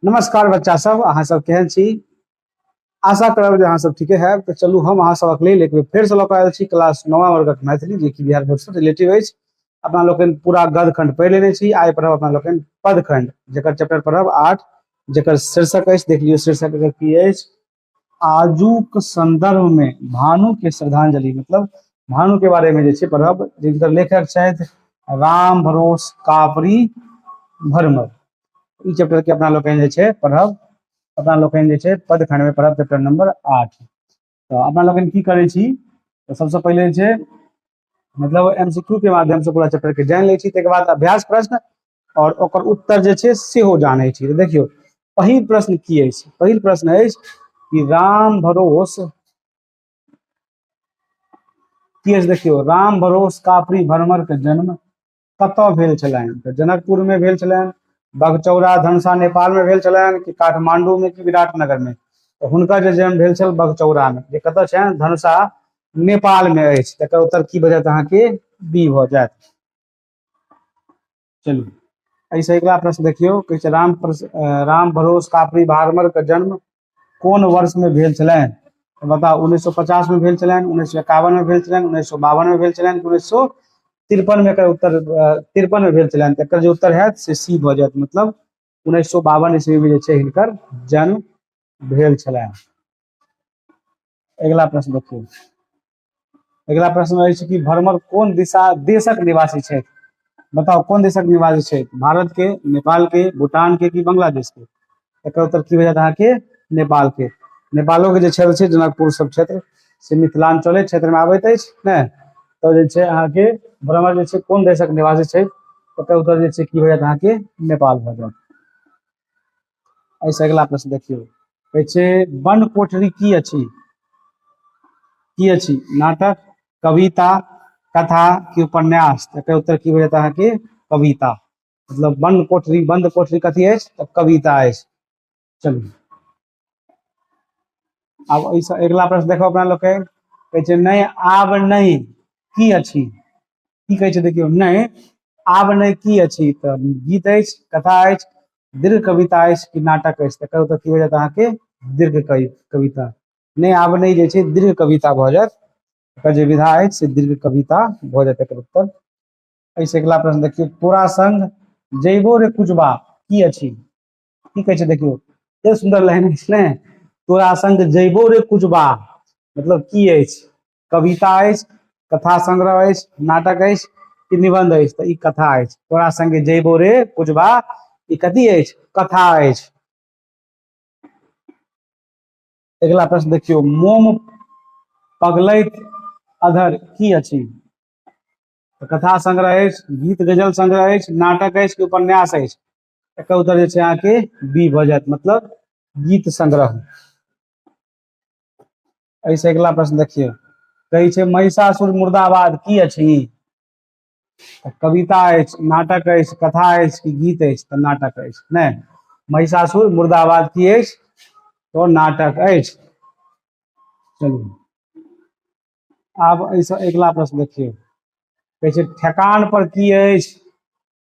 नमस्कार बच्चा सब अहाँ सब केहन छी आशा करब जे अहाँ सब ठीके है तो चलू हम अहाँ सबक लेल एक बेर फेर से लौक आयल छी क्लास नौवा वर्गक मैथिली जे कि बिहार बोर्ड से रिलेटिव अछि अपना लोकनि पूरा गद खंड पढ़ि लेने छी आइ पढ़ब अपना लोकनि पद खंड जकर चैप्टर पढ़ब आठ जकर शीर्षक अछि देख लियौ शीर्षक एकर की अछि आजुक संदर्भ में भानु के श्रद्धांजलि मतलब भानु के बारे में जे छै पढ़ब जिनकर लेखक छथि राम भरोस कापरी भरमर ई चैप्टर के अपना लोकनि जे छै पढ़ब अपना लोकनि जे छै पद खंड में पढ़ब चैप्टर नंबर आठ तो अपना लोकनि की करै छी तो सबसे पहले जे छै मतलब एमसीक्यू के माध्यम से पूरा चैप्टर के जान लै छी तकर बाद अभ्यास प्रश्न और ओकर उत्तर जे छै सेहो जानै छी देखियो पहिल प्रश्न की है पहिल प्रश्न है कि राम भरोस की है देखियो राम भरोस काफरी भरमर के जन्म कत भेल छलैन तो जनकपुर में भेल छलैन बगचौरा धनसा नेपाल में भेल छलैन कि काठमांडू में कि विराटनगर में तो हुनका जे जन्म भेल छल बगचौरा में जे कत छै धनसा नेपाल में अछि तकर उत्तर की बजत अहाँ के बी भ जायत चलू एहिसँ अगिला प्रश्न देखियौ कहै छै राम राम भरोस कापरी भारमरके जन्म कोन वर्षमे भेल छलनि तऽ बताउ उन्नैस सए पचासमे भेल छलनि उन्नैस सए एकावनमे भेल छलनि उन्नैस सए बावनमे भेल छलनि उन्नैस सए तिरपनमे एकर उत्तर तिरपनमे भेल छलनि तऽ एकर जे उत्तर हैत से सी भऽ जायत मतलब उन्नैस सए बावन ईस्वीमे जे छै हिनकर जन्म भेल छलनि अगिला प्रश्न देखियौ अगिला प्रश्न अछि कि भरमर कोन दिशा देशक निवासी छथि बताउ कोन देशक निवासी छथि भारत के नेपाल के भूटान के कि बांग्लादेश के एकर उत्तर की हो जायत अहाँके नेपाल के नेपालो के जे क्षेत्र छै जनकपुर सब क्षेत्र से मिथिलांचले क्षेत्र में आबैत अछि ने तो जे छै अहाँके भ्रमर जे छै कोन देशक निवासी छै ओकर उत्तर जे छै की हो जायत अहाँके नेपाल भऽ जायत एहिसँ अगिला प्रश्न देखियौ कहै छै बन कोठरी की अछि की अछि नाटक कविता कथा कि उपन्यास एकर उत्तर की भेटत अहाँके कविता मतलब बन कोठरी बंद कोठरी कथी अछि तऽ कविता अछि चलू आब एहिसँ अगिला प्रश्न देखो अपना लोग कहै छै नहि आब नहि की अछि की कहै छै देखियौ नहि आब नहि की अछि तऽ गीत अछि कथा अछि दीर्घ कविता अछि कि नाटक अछि तकर ओतऽ की हो जायत अहाँके दीर्घ कविता नहि आब नहि जे छै दीर्घ कविता भऽ जायत एकर जे विधा अछि से दीर्घ कविता भऽ जायत एकर उत्तर एहिसँ अगिला प्रश्न देखियौ तोरा संग जैबो रे कुजबा की अछि की कहै छै देखियौ एतेक सुन्दर लाइन अछि ने तोरा संग जैबो रे कुजबा मतलब की अछि कविता अछि कथा संग्रह अछि नाटक अछि कि निबंध अछि तऽ ई कथा अछि तोरा संगे जयबो रे कुजबा ई कथी अछि कथा अछि अगिला प्रश्न देखियौ मोम पगलैत अधर की अछि कथा संग्रह अछि गीत गजल संग्रह अछि नाटक अछि कि उपन्यास अछि एकर उत्तर जे छै अहाँके बी भऽ जायत मतलब गीत संग्रह ऐसे अगला प्रश्न देखिए कहै छै महिषासुर मुर्दाबाद की अछि कविता अछि नाटक अछि कथा अछि कि गीत अछि तऽ नाटक अछि ने महिषासुर मुर्दाबाद की अछि तो नाटक अछि चलू आब ऐसे अगला प्रश्न देखिए कहै छै ठेकान पर की अछि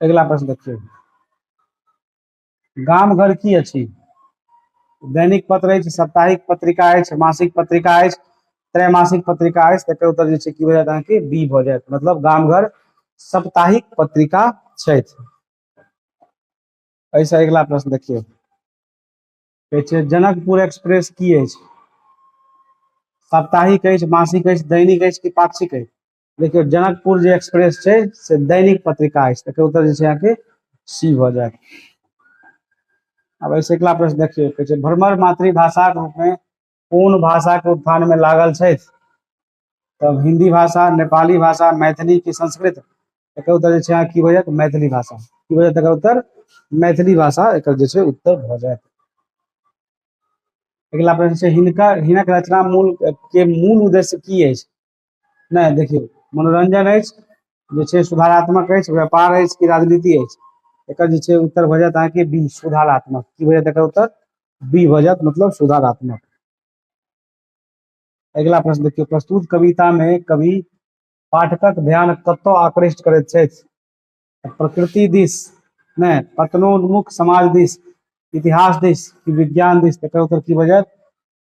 अगिला प्रश्न देखियौ गाम घर की अछि दैनिक पत्र अछि साप्ताहिक पत्रिका अछि मासिक पत्रिका अछि त्रैमासिक पत्रिका अछि तकर उत्तर जे छै की भऽ जायत अहाँके बी भऽ जायत मतलब गाम घर साप्ताहिक पत्रिका छथि एहिसँ अगिला प्रश्न देखियौ कहै छै जनकपुर एक्सप्रेस की अछि साप्ताहिक अछि मासिक अछि दैनिक अछि कि पाक्षिक अछि देखियौ जनकपुर जे एक्सप्रेस छै से दैनिक पत्रिका अछि तकर उत्तर जे छै अहाँके सी भऽ जायत आब एहिसँ अगिला प्रश्न देखियौ कहै छै भ्रमर मातृभाषाक रूपमे कोन भाषाके उत्थानमे लागल छथि तब हिंदी भाषा नेपाली भाषा मैथिली की संस्कृत एकर उत्तर जे छै अहाँ की भऽ जायत मैथिली भाषा की भऽ जायत एकर उत्तर मैथिली भाषा एकर जे छै उत्तर भऽ जायत अगिला प्रश्न छै हिनकर हिनक रचना मूल के मूल उद्देश्य की अछि नहि देखियौ मनोरंजन अछि जे छै सुधारात्मक अछि व्यापार अछि कि राजनीति अछि एकर जे छै उत्तर भऽ जायत अहाँके बी सुधारात्मक की भऽ जायत एकर उत्तर बी भऽ जायत मतलब सुधारात्मक अगिला प्रश्न देखियौ प्रस्तुत कविता मे कवि पाठकक ध्यान कतौ आकृष्ट करैत छथि प्रकृति दिस ने पतनोन्मुख समाज दिस इतिहास दिस कि विज्ञान दिस तकर उत्तर की भऽ जायत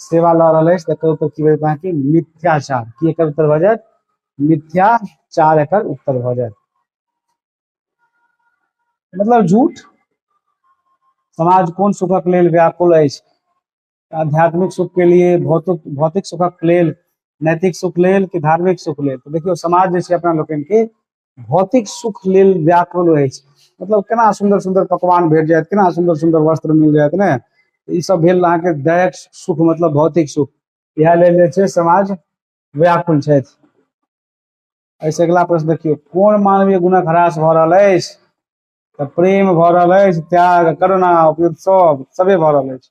सेवा लऽ रहल अछि तकर उत्तर की बजत अहाँके मिथ्याचार की एकर उत्तर भऽ जायत मिथ्याचार एकर उत्तर भऽ जायत मतलब झूठ समाज कोन सुखक लेल व्याकुल अछि आध्यात्मिक सुख के लिए भौतिक भौतिक सुखक लेल नैतिक सुख लेल कि धार्मिक सुख लेल तो देखियो समाज जैसे अपना लोग के भौतिक सुख लेल व्याकुल रहै छै मतलब केना सुन्दर सुन्दर पकवान भेट जायत केना सुन्दर सुन्दर वस्त्र मिल जायत ने ई सब भेल अहाँके दैक सुख मतलब भौतिक सुख इएह लेल जे छै समाज व्याकुल छथि एहिसँ अगिला प्रश्न देखियौ कोन मानवीय गुणक ह्रास भऽ रहल अछि तऽ प्रेम भऽ रहल अछि त्याग करुणा उपयुक्त सब सभे भऽ रहल अछि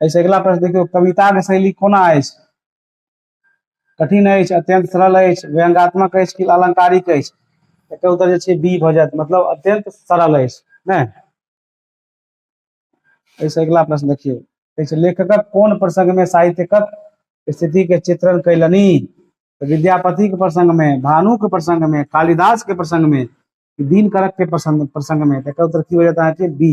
एहिसँ अगिला प्रश्न देखियौ कविताके शैली कोना अछि कठिन अछि अत्यंत सरल अछि व्यंगात्मक अछि कि अलंकारिक अछि एकर उत्तर जे छै बी भऽ जायत मतलब अत्यंत सरल अछि ने एहिसँ अगिला प्रश्न देखियौ एहिसँ लेखकक कोन प्रसंगमे साहित्यकक स्थितिके चित्रण कयलनि विद्यापतिक प्रसंगमे भानुक प्रसंगमे कालिदासके प्रसंगमे दिनकरकके प्रसंग प्रसंगमे एकर उत्तर की हो जायत अहाँके बी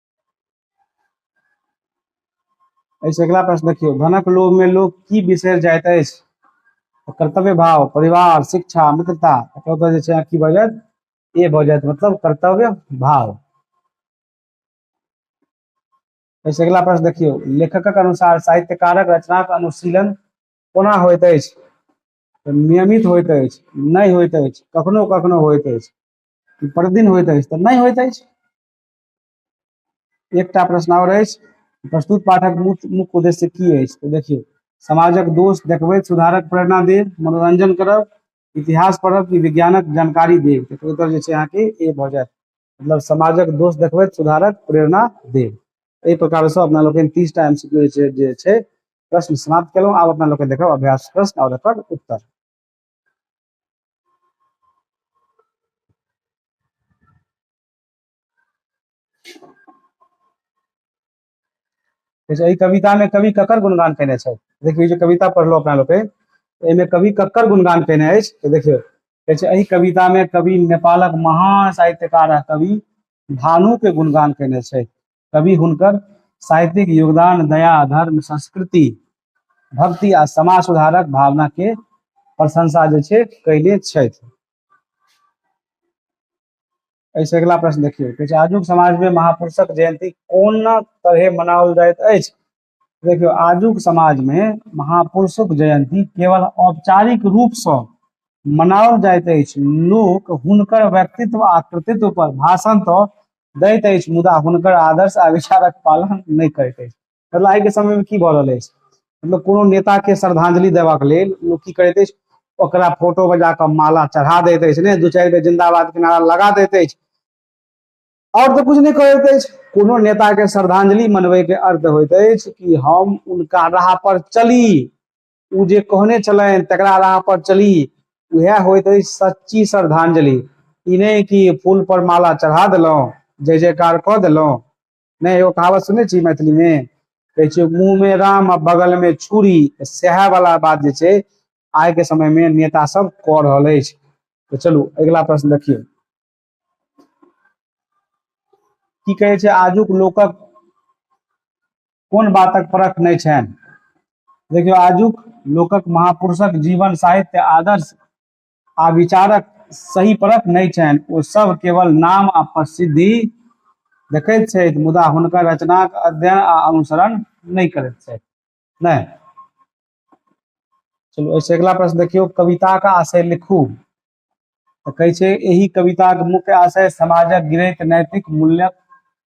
एहिसँ अगिला प्रश्न देखियौ धनक लोभमे लोक की बिसरि जाइत अछि तऽ कर्तव्य भाव परिवार शिक्षा मित्रता एकर उत्तर जे छै अहाँ की भऽ जायत ए भऽ जायत मतलब कर्तव्य भाव एहिसँ अगिला प्रश्न देखियौ लेखकक अनुसार साहित्यकारक रचनाक अनुशीलन कोना होइत अछि तऽ नियमित होइत अछि नहि होइत अछि कखनो कखनो होइत अछि कि प्रतिदिन होइत अछि तऽ नहि होइत अछि एकटा प्रश्न आओर अछि प्रस्तुत पाठक मुख्य मुख्य उद्देश्य की अछि तऽ देखियौ समाजक दोष देखबैत सुधारक प्रेरणा देब मनोरंजन करब इतिहास पढ़ब कि विज्ञानक जानकारी देब तऽ उत्तर जे छै अहाँके ए भऽ जायत मतलब समाजक दोष देखबैत सुधारक प्रेरणा देब एहि प्रकारसँ अपना लोकनि तीसटा एम सी क्यू जे छै प्रश्न समाप्त केलहुँ आब अपना लोकनि देखब अभ्यास प्रश्न आओर एकर उत्तर एहि कविता में कवि ककर गुणगान केने छथि देखियौ जे कविता पढ़लहुँ अपना लोग एहिमे कवि ककर गुणगान केने अछि तऽ देखियौ कहै छै एहि कविता में कवि नेपालक महान साहित्यकार आ कवि भानु के गुणगान केने छथि कवि हुनकर साहित्यिक योगदान दया धर्म संस्कृति भक्ति आ समाज सुधारक भावना के प्रशंसा जे छै कैले छथि एहिसँ अगिला प्रश्न देखियौ कहै छै आजुक समाजमे महापुरुषक जयन्ती कोना तरहे मनाओल जाइत अछि देखियौ आजुक समाजमे महापुरुषक जयन्ती केवल औपचारिक रूपसँ मनाओल जाइत अछि लोक हुनकर व्यक्तित्व आ कृतित्व पर भाषण तऽ दैत अछि मुदा हुनकर आदर्श आ विचारक पालन नहि करैत अछि मतलब आइ के समय में की भऽ रहल अछि मतलब कोनो नेता के श्रद्धांजलि देबाक लेल लोक की करैत अछि ओकरा फोटो बजा कऽ माला चढ़ा दैत अछि ने दू चारि बेर जिंदाबाद के नारा लगा दैत अछि और तो कुछ नहीं करैत अछि कोनो नेता के श्रद्धांजलि मनबे के अर्थ होइत अछि कि हम उनका राह पर चली ओ जे कहने छलनि तकरा राह पर चली उएह होइत अछि सच्ची श्रद्धांजलि ई नहि कि फूल पर माला चढ़ा देलहुँ जय जयकार कऽ देलहुँ नहि एगो कहावत सुनै छी मैथिलीमे कहै छै मुँहमे राम आ बगलमे छुरी सएह वाला बात जे छै आइके समयमे नेता सब कऽ रहल अछि तऽ चलू अगिला प्रश्न देखियौ की कहै छै आजुक लोकक कोन बातक परख नहि छनि देखियौ आजुक लोकक महापुरुषक जीवन साहित्य आदर्श आ विचारक सही परक नहि छनि ओ सब केवल नाम आ प्रसिद्धि देखैत छथि मुदा हुनकर रचनाक अध्ययन आ अनुसरण नहि करैत छथि नहि चलू एहिसँ अगिला प्रश्न देखियौ कविताक आशय लिखू तऽ कहै छै एहि कविताक मुख्य आशय समाजक गिरैत नैतिक मूल्यक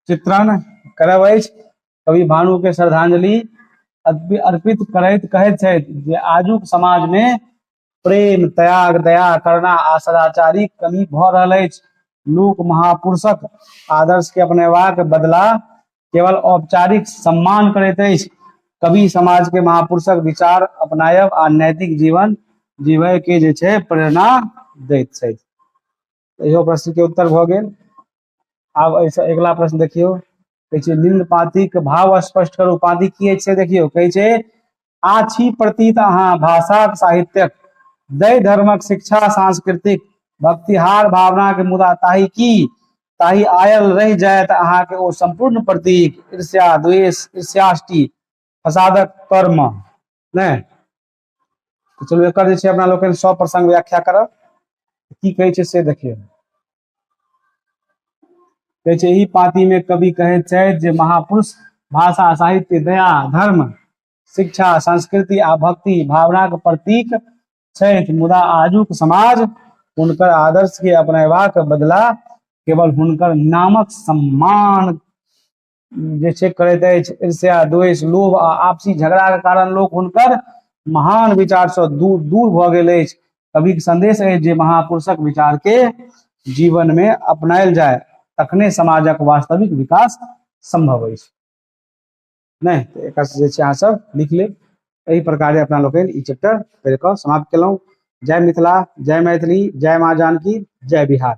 चित्रण करब अछि कवि भानुके श्रद्धांजलि अर्पित करैत कहैत छथि जे आजुक समाजमे प्रेम त्याग दया करना आ सदाचारी कमी भऽ रहल अछि लोक महापुरुषक आदर्श के अपनेबाक बदला केवल औपचारिक सम्मान करैत अछि कवि समाज के महापुरुषक विचार अपनायब आ नैतिक जीवन जीवय के जे छै प्रेरणा दैत छथि इहो प्रश्न के उत्तर भऽ गेल आब एहिसँ अगिला प्रश्न देखियौ कहै छै निम्न पातिक भाव स्पष्ट करू पाति की अछि से देखियौ कहै छै आछी प्रतीत अहाँ भाषाक साहित्यक दै धर्मक शिक्षा सांस्कृतिक भक्तिहार भावना के मुदा ताहि की ताहि आयल रहि जायत अहाँके ओ संपूर्ण प्रतीक ईर्ष्या द्वेष ईर्ष्याष्टि फसादक कर्म नहि तो चलो एक जे छै अपना लोकनि सब प्रसंग व्याख्या करब की कहे छै से देखिए कहे छै एहि पाती में कवि कहे छै जे महापुरुष भाषा साहित्य दया धर्म शिक्षा संस्कृति आ भक्ति भावना के प्रतीक छथि मुदा आजुक समाज हुनकर आदर्श के अपनेबाक बदला केवल हुनकर नामक सम्मान जे छै करैत अछि ईर्ष्या द्वेष लोभ आ आपसी झगड़ाके कारण लोक हुनकर महान विचारसँ दूर दूर भऽ गेल अछि कविक संदेश अछि जे महापुरुषक विचारके जीवनमे अपनायल जाय तखने समाजक वास्तविक विकास सम्भव अछि नहि तऽ एकर जे छै अहाँ सब लिख लेब एहि प्रकारे अपना लोकनि ई चैप्टर पढ़ि कऽ समाप्त केलहुँ जय मिथिला जय मैथिली जय माँ जानकी जय बिहार